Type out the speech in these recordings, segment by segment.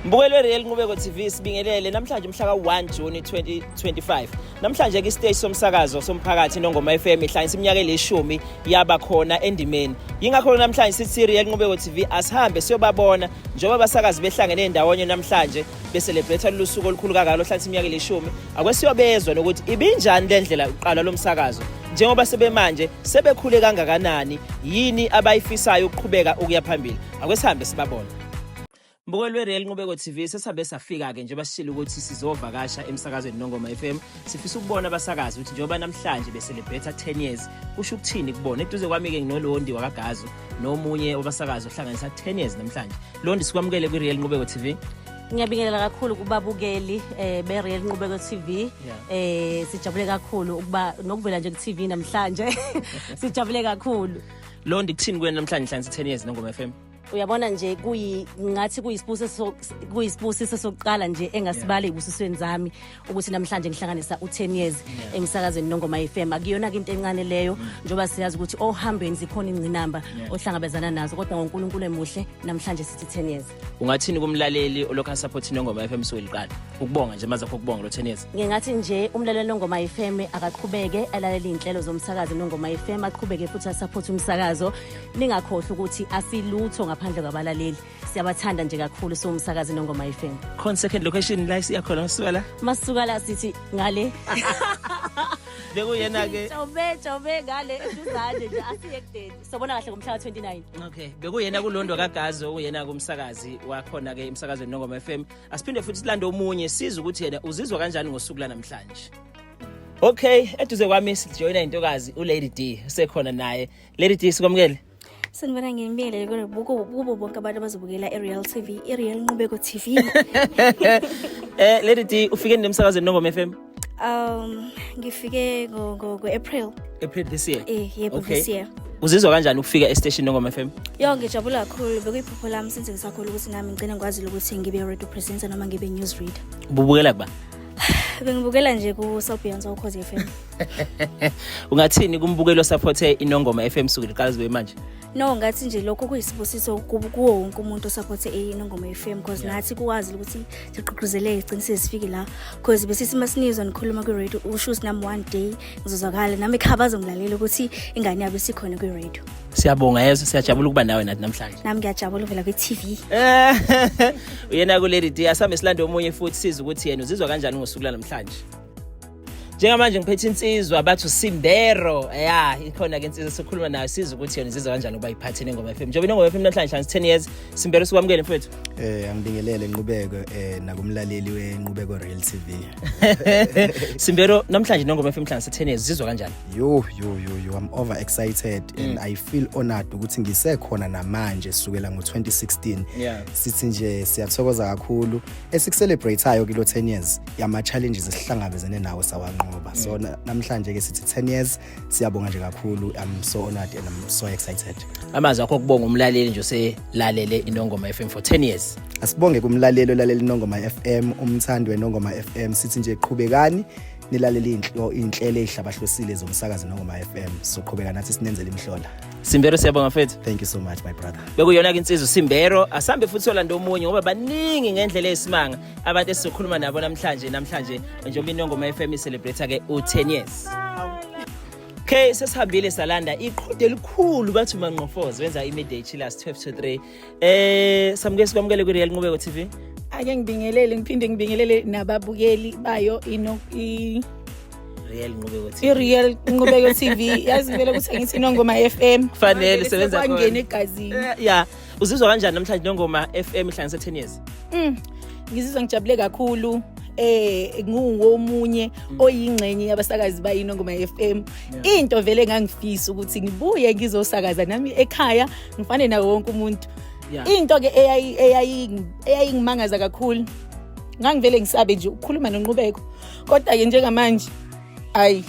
Mbukeli we-Real Nqubeko TV sibingelele namhlanje umhla ka-1 Juni 2025. Namhlanje kwisiteshi somsakazo somphakathi Nongoma FM ihlanyisa iminyaka elishumi yaba khona endimeni. Yingakho namhlanje sithi Real Nqubeko TV asihambe siyobabona njengoba abasakazi behlangene ndawonye namhlanje beselebrate lolu suku olukhulu kangaka lohlanisa iminyaka elishumi. Akwesiyobezwa nokuthi ibinjani le ndlela uqala lo msakazo njengoba sebemanje sebekhule kangakanani yini abayifisayo ukuqhubeka ukuya phambili. Akwesihambe sibabona. Mbuko lweReal Nqubeko TV sesabe safika-ke nje basishilo ukuthi sizovakasha emsakazweni Nongoma FM. Sifisa ukubona abasakazi ukuthi njengoba namhlanje beselebhetha 10 years kusho ukuthini kubona. Eduze kwami-ke nginolondi wakagazo nomunye obasakazi ohlanganisa 10 years namhlanje. Londi sikwamukele kwiReal Nqubeko TV. Ngiyabingelela kakhulu kubabukeli eh beReal Nqubeko TV. Eh sijabule kakhulu ukuba nokuvela nje ku-TV namhlanje. Sijabule kakhulu. Londi kuthini kuwena namhlanje hlansi 10 years Nongoma FM? uyabona nje kuyi ngathi kuyisibusiso kuyisibusiso sokuqala nje engasibali ebusisweni zami ukuthi namhlanje ngihlanganisa u10 years emsakazweni nongoma FM akuyona into encane leyo mm. njoba siyazi ukuthi ohambeni zikhona ingcinamba ohlangabezana nazo kodwa ngoNkulunkulu emuhle namhlanje sithi 10 years ungathini kumlaleli olokha support nongoma FM sokuliqala ukubonga nje maze ukubonga lo 10 years ngingathi nje umlaleli nongoma FM akaqhubeke alalele inhlelo zomsakazi nongoma FM aqhubeke futhi asupport umsakazo Ningakhohlwa ukuthi asilutho ngaphandle kwabalaleli. Siyabathanda nje kakhulu siwumsakazi nongoma FM. Khona second location la siyakhona masuka la. Masuka la sithi ngale. bekuyena ke jobe jobe ngale eduzane nje asiye kudeni sobona kahle ngomhla wa 29 okay bekuyena kulondo kagazo uyena kumsakazi wakhona ke emsakazweni nongoma FM asiphinde futhi silande omunye siza ukuthi yena uzizwa kanjani ngosuku lanamhlanje Okay, eduze kwami sijoyina intokazi uLady D sekhona naye Lady D sikwamukele. Sanibona ngimbele kubo kubo bonke abantu abazobukela iReal TV, iReal Nqubeko TV. Eh Lady D ufike nemsakazweni Nongoma FM. Um ngifike ngo ngo April. April this year. Eh yebo okay. this year. Uzizwa kanjani ukufika estation Nongoma FM? Yo ngijabula kakhulu bekuyiphupho lami since ngisakhulu ukuthi nami ngicela ngikwazi ukuthi ngibe radio presenter noma ngibe news reader. Ububukela kuba? Bengibukela nje ku South Beyonce ukhozi FM. ungathini kumbukeli osaphothe inongoma FM suku liqala zibe manje no ngathi nje lokho kuyisibusiso kuwo wonke umuntu osaphothe inongoma FM because yeah. nathi kuwazi ukuthi sigqugquzele iqiniso sifike la because besisi masinizwa nikhuluma kwi radio usho ukuthi nami one day ngizozwakala nami ekhaba azongilalela ukuthi ingane yabo isikhona kwi radio siyabonga yeso siyajabula ukuba nawe nathi namhlanje nami ngiyajabula uvela kwi TV uyena ku Lady D asambe silande omunye futhi siza ukuthi yena uzizwa kanjani ngosuku lanamhlanje njengamanje ngiphethe insizwa bathu simbero ya ikhona ke insizwa sikhuluma nayo siza ukuthi yona izizwa kanjani ukuba iphathe nengoma FM njengoba inengoma FM namhlanje hlansi 10 years simbero sikwamukele mfethu eh angibingelele inqubeko eh nakumlaleli wenqubeko Real TV simbero namhlanje nengoma FM hlansi 10 years izizwa kanjani yo yo yo yo i'm over excited mm. and i feel honored ukuthi ngisekhona namanje sukela ngo 2016 yeah. sithi nje siyathokoza kakhulu esikucelebrateayo kilo 10 years yama-challenges esihlangabezene nawo sawanqoba so mm. namhlanje ke sithi 10 years siyabonga nje kakhulu i'm so honored and i'm so excited amazwi akho kubonga umlaleli nje oselalele inongoma fm for 10 years asibonge kumlaleli olaleli inongoma fm umthandi wenongoma fm sithi nje qhubekani nilalele inhlo inhlelo ezihlabahlosile zomsakazi nongoma FM so qhubeka nathi sinenzele imhlola Simbero siyabonga mfethu thank you so much my brother bekuyona ke insizwa Simbero asambe futhi olanda omunye ngoba baningi ngendlela esimanga abantu esizokhuluma nabo namhlanje namhlanje njengoba inongoma FM celebrate ke u10 years Okay sesihambile salanda iqhude elikhulu bathi uManqofozi wenza imidday chillers 12 to 3 eh samukele sikwamukele ku Real Nqubeko TV ake ngibingelele ngiphinde ngibingelele nababukeli bayo ino i Real Nqubeko TV. I-Real Nqubeko TV yazi vele ukuthi ngithi Nongoma FM. Kufanele sebenza khona. Kwangena egazini. Eh, yeah. uzizwa kanjani namhlanje nongoma FM ihlanganise 10 years mm. ngizizwa ngijabule kakhulu eh ngiwomunye mm. oyingxenye yabasakazi bayino ngoma FM into vele ngangifisa ukuthi ngibuye ngizosakaza nami ekhaya ngifane nawo wonke umuntu into ke eyayingimangaza kakhulu ngangivele ngisabe nje ukukhuluma nonqubeko kodwa ke njengamanje ayi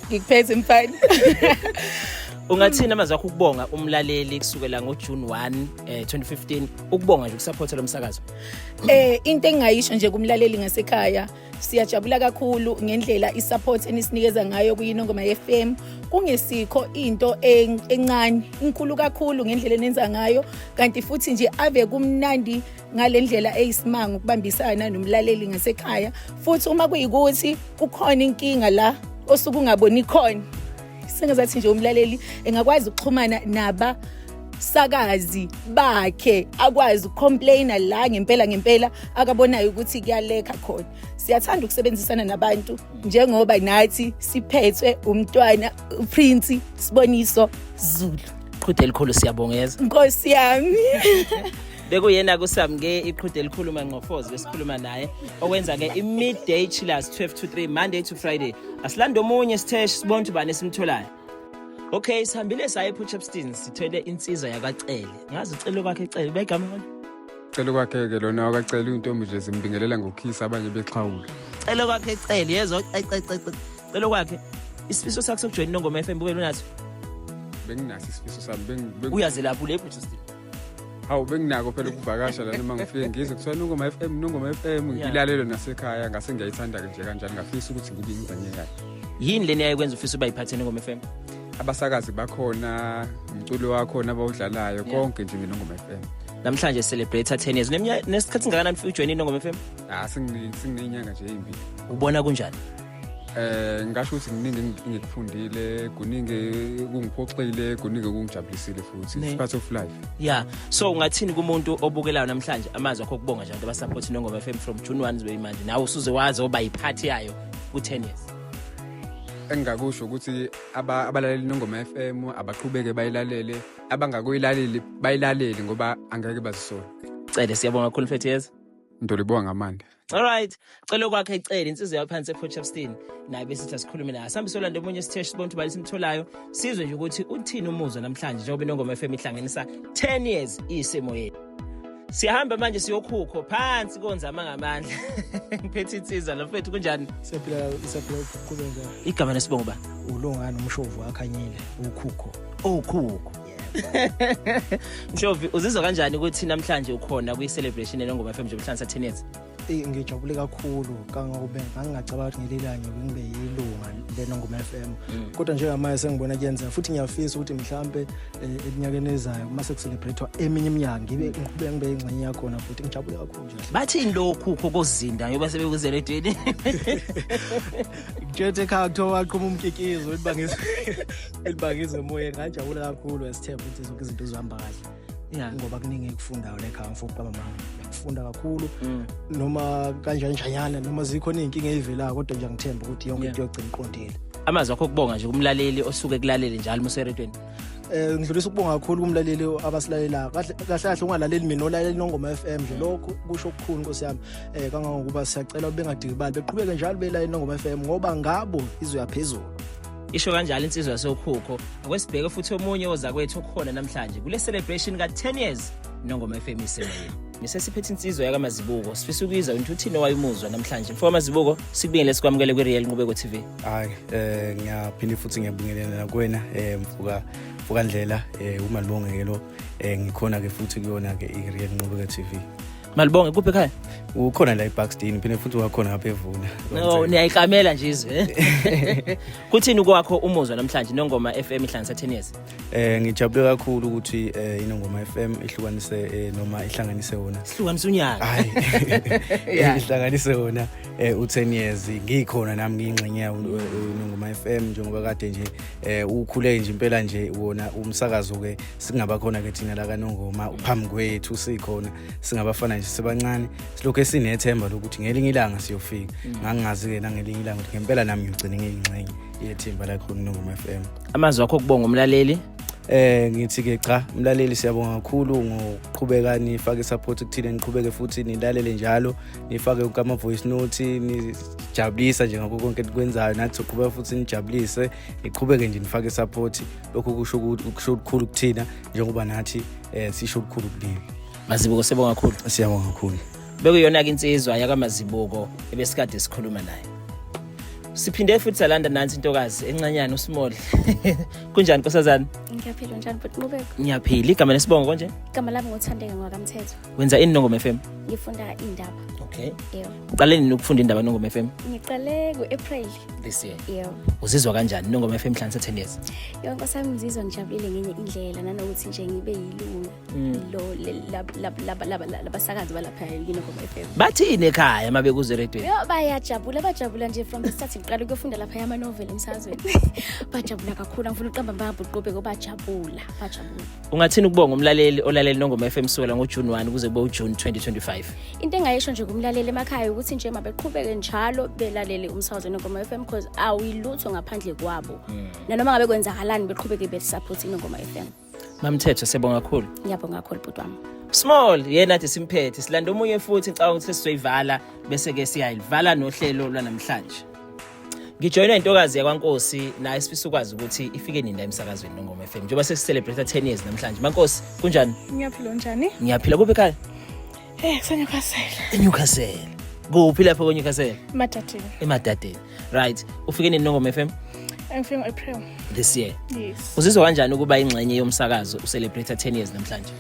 ngikuphethe mfana ungathini amazwi akho ukubonga umlaleli kusukela ngojune 1 eh, 2015 ukubonga nje ukusaphotha lo msakazo eh into engingayisho nje kumlaleli ngasekhaya siyajabula kakhulu ngendlela isupport enisinikeza ngayo kuyinongoma FM kungesikho into en- encane inkulu kakhulu ngendlela enenza ngayo kanti futhi nje ave kumnandi ngale ndlela eyisimanga ukubambisana nomlaleli ngasekhaya futhi uma kuyikuthi kukhona inkinga la osuke ungaboni khona sengazathi nje umlaleli engakwazi ukuxhumana naba sakazi bakhe akwazi ukucomplaina la ngempela ngempela akabonayo ukuthi kuyaleka khona siyathanda ukusebenzisana nabantu njengoba nathi siphethwe umntwana uprince siboniso zulu qhude elikhulu siyabongeza nkosi yami bekuyena kusamke iqhude elikhulu manqofozi besikhuluma naye okwenza ke i-midday chillers 12 to 3 monday to friday asilande omunye sitheshi sibona ukuthi ubani esimtholayo okay sihambile saye epuchepston sithwele insizwa yakacele ngazi ucelo kwakhe cele begama lona celo kwakhe-ke lona wakacela iy'ntombi nje zimbingelela ngokhisa abanye bexhawula celo kwakhe cele yezwa celo kwakhe isifiso sakho sokujoyina inongoma f m bube lunaso benginaso isifiso sami uyazelapha ulephuchepston hawu benginako phela ukuvakasha lana uma ngifike ngizwe kuthiwa nongoma f m nongoma f m ngilalelo nasekhaya ngase ngiyayithanda-ke nje kanjani ngafisa ukuthi ngibe ingxenye yayo yini leni yayikwenza ufisa uba yiphathe nongoma f m abasakazi bakhona umculo wakhona abawudlalayo konke nje mina ngoma f m namhlanje celebrate 10 years nesikhathi singakanani ujoyine inongoma f m ah singinenyanga nje eyimbi ubona kunjani Eh ngasho ukuthi kuningi engikufundile, kuningi kungiphoxile, kuningi kungijabulisile futhi. It's part of life. Yeah. So ungathini kumuntu obukelayo namhlanje amazwi akho kubonga nje abantu abasupport Nongoma FM from June 1 zibe manje. Nawe usuze wazi oba yiphathi yayo ku 10 years. engingakusho ukuthi abalaleli nongoma FM abaqhubeke bayilalele abangakuyilaleli bayilaleli ngoba angeke bazisole cele siyabonga kakhulu mfethu yeza ndolibonga ngamandla Alright, cela okwakhe icela insizwa yaphansi ePortchefstroom naye besithi asikhulume naye. Sihambe solanda omunye isiteshi sibone ukuthi bani simtholayo. Sizwe nje ukuthi uthini umuzwa namhlanje njengoba inongoma FM ihlanganisa 10 years isimo yethu. Siyahamba manje siyokhukho phansi konzama ngamandla. Ngiphethe insizwa lo mfethu kunjani? Siyaphila isaphila ukuqhubeka. Igama lesibongo ba? Ulongani umshovu akhanyile ukhukho. Ukhukho. Mshovi uzizwa kanjani ukuthi namhlanje ukhona kwi celebration elengoma FM njengoba hlansa 10 years? Eh ngijabule kakhulu kangobe ngangingacabanga ukuthi ngelilanye ngibe yilunga lena ngoma FM. Mm. Kodwa njengamanje sengibona kuyenzeka futhi ngiyafisa ukuthi mhlambe eh, eminyakeni ezayo uma sekucelebrate eminye iminyaka ngibe mm. ngiqhubeke ngibe ingxenye yakhona futhi ngijabule kakhulu nje. Bathini lokhu kokuzinda ngiyoba sebekuzela edini. Ngithethe khakuthiwa waqhuma umkikizo uthi bangizwe. elibangizwe emoyeni ngajabula kakhulu esithemba ukuthi zonke izinto zizohamba kahle ya ngoba kuningi ekufundayo lekhaya mfo uqaba mama ngiyakufunda kakhulu mm. noma kanjani njanyana noma zikho izinkinga ezivelayo kodwa nje ngithemba ukuthi yonke into yogcina iqondile amazwi akho kubonga nje kumlaleli osuke kulalele njalo museretweni eh ngidlulisa ukubonga kakhulu kumlaleli abasilalelayo kahle kahle ungalaleli mina olaleli nongoma FM nje lokho kusho ukukhulu nkosi yami eh kangangokuba siyacela ubengadikibali beqhubeke njalo belalela nongoma FM ngoba ngabo izwe yaphezulu isho kanjalo insizwa yasokhukho akwesibheke futhi omunye ozakwethu okhona namhlanje kule celebration ka-10 years nongoma fm isemoyeni ngisesiphethe insizwa yakamazibuko sifisa ukuyizwa ukuthi uthini owayimuzwa namhlanje mfo kamazibuko sikubingele sikwamukele kwi-real nqubeko tv hayi um ngiyaphinde futhi ngiyabingelela nakuwena um eh, mfuka mfukandlela um eh, umalibongekelo um ngikhona-ke futhi kuyona-ke i-real nqubeko tv Malibonge kuphi ekhaya? Ukhona la eBackstein phinde futhi wakhona ngapha evuna. No, niyayikamela nje izwe. Eh? Kuthini kwakho umuzwa namhlanje nongoma FM ihlanganisa 10 years? Eh ngijabule kakhulu ukuthi eh inongoma FM ihlukanise eh, noma ihlanganise wona. Ihlukanise unyaka. Hayi. Eh, ihlanganise wona eh u10 years ngikhona nami ngingxenye yawo inongoma FM njengoba kade nje eh ukhule nje impela nje wona umsakazo ke singaba khona ke thina la kanongoma phambi kwethu sikhona singabafana nje sibancane silokhu esinethemba lokuthi ngelinye ilanga siyofika mm. ngangingazi-ke nangelinye ilanga ukuthi ngempela nami ngigcine ngiyingxenye yethimba lakho kunongoma f m amazwi wakho okubonga umlaleli eh ngithi ke cha mlaleli siyabonga kakhulu ngokuqhubeka nifake support kuthina niqhubeke futhi nilalele njalo nifake ukama voice note nijabulisa nje ngakho konke enikwenzayo nathi soqhubeka futhi nijabulise iqhubeke nje nifake isaphothi lokhu kusho kusho ukukhulu kuthina njengoba nathi eh sisho ukukhulu kunini mazibuko sibonga kakhulu siyabonga kakhulu bekuyona ke insizwa yakamazibuko ebesikade sikhuluma naye siphinde futhi salanda nansi intokazi encanyana usimodle kunjani nkosazana ngiyaphila njani bhuti nqubeko ngiyaphila igama lesibongo konje igama lami ngothandeka ngwakamthetho wenza ini nongoma fm ngifunda indaba okay yebo uqale nini ukufunda indaba nongoma fm ngiqale ku-april this year yebo uzizwa kanjani nongoma fm hlansa 10 years yebo nkosi yami ngizizwa ngijabulile ngenye indlela nanokuthi nje ngibe yilunga mm. lo labasakazi balapha yinongoma fm bathini ekhaya uma bekuze radio yo bayajabula bajabula nje from the start ngiqale ukuyofunda lapha yama-novel emsazweni bajabula kakhulu angifuna uqamba mbabhuqobe ko bajabula bajabula Ungathini ukubonga umlaleli olaleli Nongoma FM kusukela ngoJune 1 kuze kube uJune 2025? Into engayisho nje kumlaleli emakhaya ukuthi nje mabeqhubeke njalo belalele umsakazo Nongoma FM because awuyilutho ngaphandle kwabo. Hmm. Nanoma ngabe kwenzakalani beqhubeke besupport Nongoma FM. Mamthetho siyabonga kakhulu. Ngiyabonga kakhulu bhuti wami. Small yena athi simphethe silanda omunye futhi ngicabanga ukuthi sizoyivala bese ke siyayilivala nohlelo lwanamhlanje. ngijoyinwa intokazi yakwankosi naye sifisa ukwazi ukuthi ifike nini la emsakazweni nongoma FM njengoba sesicelebrate 10 years namhlanje mankosi kunjani ngiyaphila njani ngiyaphila kuphi ekhaya eh kuseNewcastle eNewcastle kuphi lapho kweNewcastle emadadeni emadadeni right ufike nini nongoma FM ngifike ngo-april this year yes uzizwa kanjani ukuba ingxenye yomsakazo ucelebrate 10 years namhlanje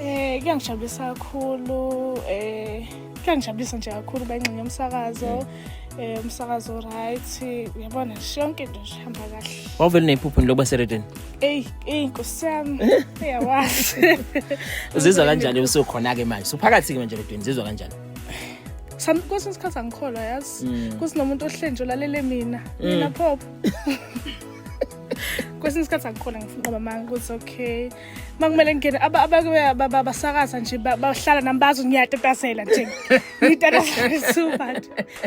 eh kuyangijabulisa kakhulu eh kuyangijabulisa nje kakhulu uba ingxenye yomsakazo mm. eh, umsakazo right uyabona nje yonke into nje ihamba kahle wawuvele neyiphupho lokuba seredeni eyi eyi nkosi yami uyawazi uzizwa kanjani usukhona-ke manje suphakathi-ke manje redweni zizwa kanjani Some kwesinye isikhathi angikholwa yazi mm. kusinomuntu ohlenje olalele mina mm. mina pop kwesinye isikhathi angikholwa ngifuna uba manga ukuthi okay makumele ngingene abasakaza nje bahlala nami bazi ngiyatatazela nje ngitatazela subat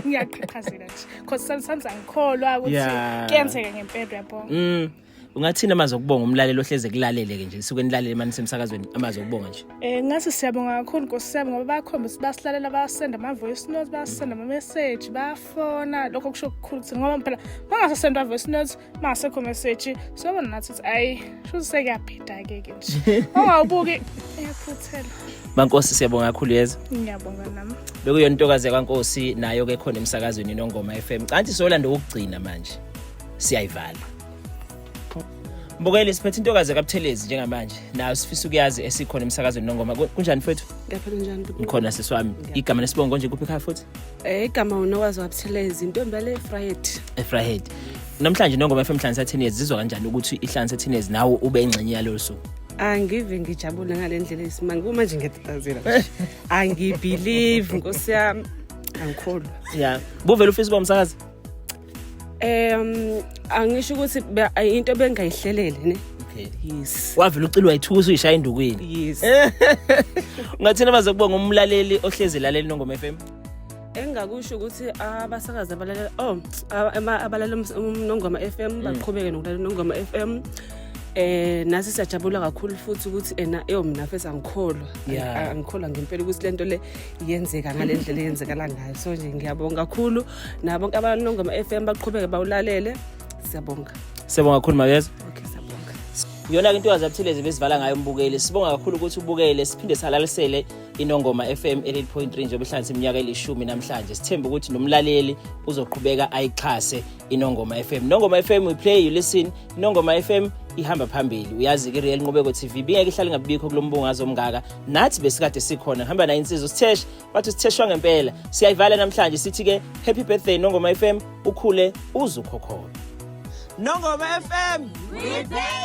ngiyaqhaqhazela nje because sometimes angikholwa ukuthi kuyenzeka ngempela uyabona mm. ungathini amazi okubonga umlaleli ohleze kulalele-ke nje suke nilalele mani semsakazweni amazi okubonga nje um ngathi siyabonga kakhulu nkosi yami ngoba bayakhomba ukuthi basilalela bayasenda ama-voice note bayasenda ama-message bayafona lokho kusho kukhulu ukuthi ngoba phela bangasasenda ama-voice note uma asekho meseji sobona nathi ukuthi ayi shuthi sekuyabhida-ke ke nje ongawubuki uyaphuthela bankosi siyabonga kakhulu yeza ngiyabonga nami bekuyona intokazi yakwankosi nayo ke khona emsakazweni nongoma FM canti soyolanda ukugcina manje siyayivala Mbokeli siphethe intokazi kaButhelezi njengamanje nayo sifisa ukuyazi esikhona emsakazweni nongoma kunjani mfethu Ngiyaphila njani Mkhona siswami igama lesibongo nje kuphi khaya futhi Eh, igama unokwazi wabuthelezi intombi yale efrahed efrahed namhlanje nongoma FM Hlansa Teenage zizwa kanjani ukuthi ihlansa Teenage nawo ube ingxenye yalolu suku angive ngijabule ngale ndlela yesimanga kuma nje ngiyatazela angibelieve nkosi yami angikholwa ya buvela ufisa uba umsakazi um angisho ukuthi be- ay- into bengayihlelele ne Okay. yes wavele ucilwa yithukusa uyishaya endukwini yes ungathina baze kubonga umlaleli ohlezi laleli nongoma f m engakusho ukuthi abasakazi abalalela oh aba- ama- abalalela ums- umnongoma f m baqhubeke nokulalela unongoma f m eh nasi siyajabula kakhulu futhi ukuthi ena eyo mina fesa ngikholwa Yeah. Ang- angikholwa ngempela ukuthi lento le yenzeka ngale ndlela eyenzekala ngayo so nje ngiyabonga kakhulu nabo bonke abanongo ama-fm baqhubeke bawulalele siyabonga siyabonga kakhulu makeza okay siyabonga iyona ke intokazi abuthelezi besivala ngayo umbukeli sibonga kakhulu ukuthi ubukele siphinde salalisele inongoma fm 88.3 njengoba ihlanganisa iminyaka elishumi namhlanje sithembe ukuthi nomlaleli uzoqhubeka ayixhase inongoma fm nongoma fm we play you listen inongoma fm ihamba phambili uyazi ke real nqubeko tv bingeke ihlale ngabikho kulombungazo omngaka nathi besikade sikhona hamba nayo insizwa sitheshe bathi sitheshwa ngempela siyayivala namhlanje sithi ke happy birthday nongoma fm ukhule uzukhokhona nongoma fm we play